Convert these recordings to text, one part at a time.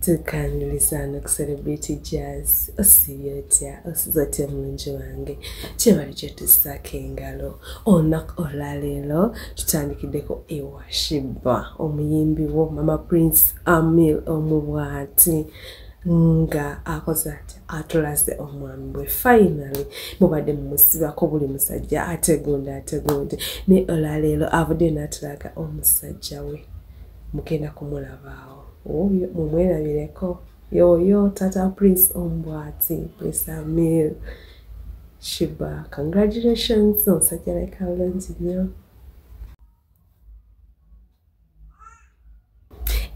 tukaniriza no kuserebrate jazz osiibye otya osiza otya mulungi wange kyebali kyetusaako engalo olunaku olwaleero tutandikiddeko ewashiba omuyimbi wo mama prince amil omubwati nga akoze ati atulaze omwami bwe finally mubadde mumusibako buli musajja ategunde ategunde naye olwaleero avudde natulaga omusajja we mugenda kumulabaawo oyo mumwerabireko yoyo tata prince ombwati prince amir shiba congratulations omusajja leka bulungi nnyo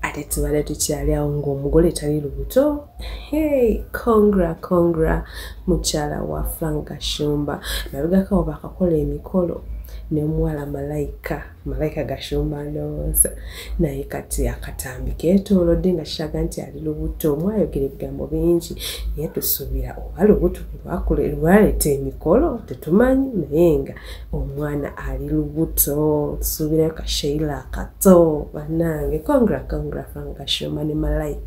ate tubale tukyali awo ngaomugole tali lubuto hey congra congra mukyala wa frank gashumba nabigakawo bakakola emikolo nemuwala malayika malayika gashumba ndowooza naye kati akatambi ketolodde nga kiraga nti ali lubuto mwayogera ebigambo bingi naye tusuubira oba lubuto lwaleeta emikolo tetumanyi naye nga omwana ali lubuto tusuubirayo kasheila akato banange congra congra fanga gashumba ne malayika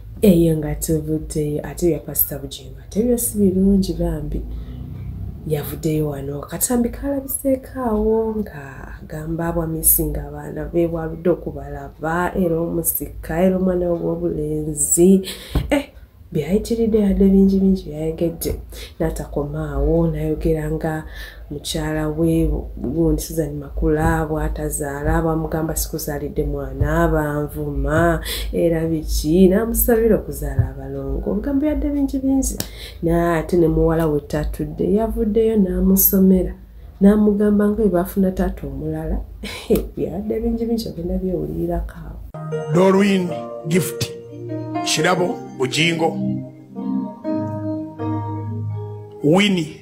eyo nga tuvuddeyo ate bya pasita bugingo ate byo si birungi bambi yavuddeyo wano katambi kalabiseekaawo nga agamba abwamisinga abaana be bwaludde okubalaba era omusika era omwana we wobulenzi eh, byayitiridde yadde bingi bingi byayogedde natakomaawo nayogera nga mukyala we gundi suzan makula bwatazaala bamugamba sikuzaalidde mwana banvuma era biki namusabira okuzaala abalongo obugambo yadde bingi bingi naye ate ne muwala we tatudde yavuddeyo namusomera namugamba nga webafuna taata omulala yadde bingi bingi ogenda byewulirako awo dorwin gift kirabo bujingo wini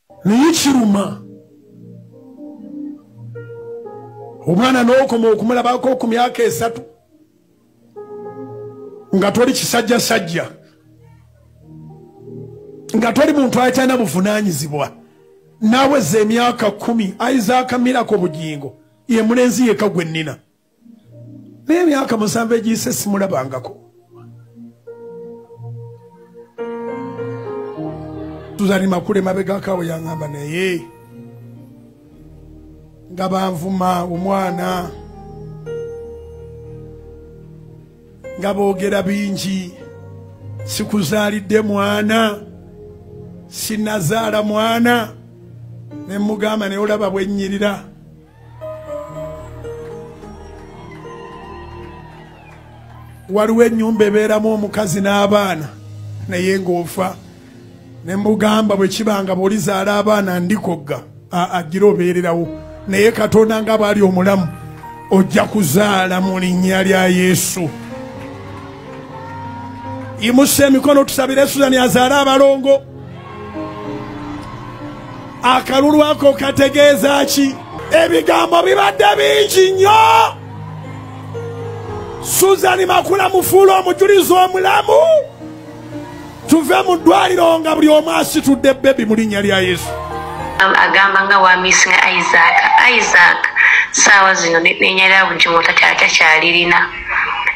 naye kiruma omwana n'okoma okumulabako ku myaka esatu nga toli kisajjasajja nga toli muntu akyana buvunaanyizibwa naaweza emyaka kumi aizaaka mirako bugingo ye mulenzi yeka gwe nnina naye emyaka musanvu egiyise simulabangako tuzali makule mabegakawo yangamba naye nga banvuma omwana nga boogera bingi sikuzaalidde mwana sinazaala mwana ne mugamba naye olaba bwenyirira waliwo enyumba ebeeramu omukazi n'abaana naye ng'ofa ne mbugamba bwe kibanga bwolizaala abaana ndikogga agira obeererawo naye katonda nga baali omulamu ojja kuzaala mu linnya lya yesu imusa emikono tusabire suzani azaale abalongo akalulu ako kategeeza ki ebigambo bibadde bingi nnyo suzani makula mufuula omujulizi omulamu tuve mu ddwaliro nga buli omu asitudde bebi mu linnya lya yesu agamba nga wamisinga isaac isaac saawa zino nenyalira bujumu takyalirina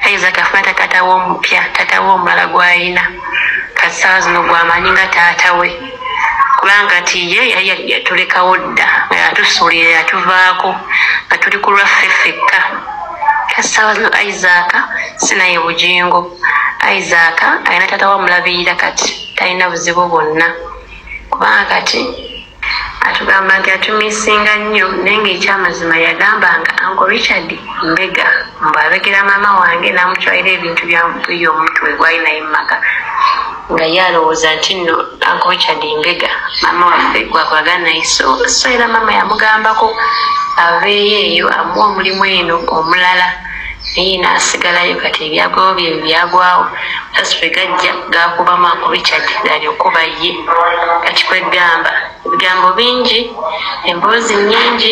ayiza tafuna tatata we omupya tata we omulala gwayina kasaawa zino gwamanyi nga taata we kubanga ti ye yatulekawo dda nga yatusuulira yatuvaako nga tuli ku lwaffe ffekka kasaawa zino isaaka sinaye bugingo isaaka alina taata we amulabirira kati talina buzibu bwonna kubanga kati atugamba nti atumisinga nnyo naye ngaekyamazima yagambanga anko richard mbega mbu abegera maama wange namutwalira ebintu byayo omutwe gwali naye mumaka nga ye alowooza nti nno anko richard mbega maama waffe gwakwagala naye so era maama yamugambako aveeyo eyo amuwa omulimu eno omulala naye naasigalayo kati ebyagwawo bye byagwawo aspe gajja gakuba mak richard galyokuba ye kati kwegamba ebigambo bingi emboozi nyingi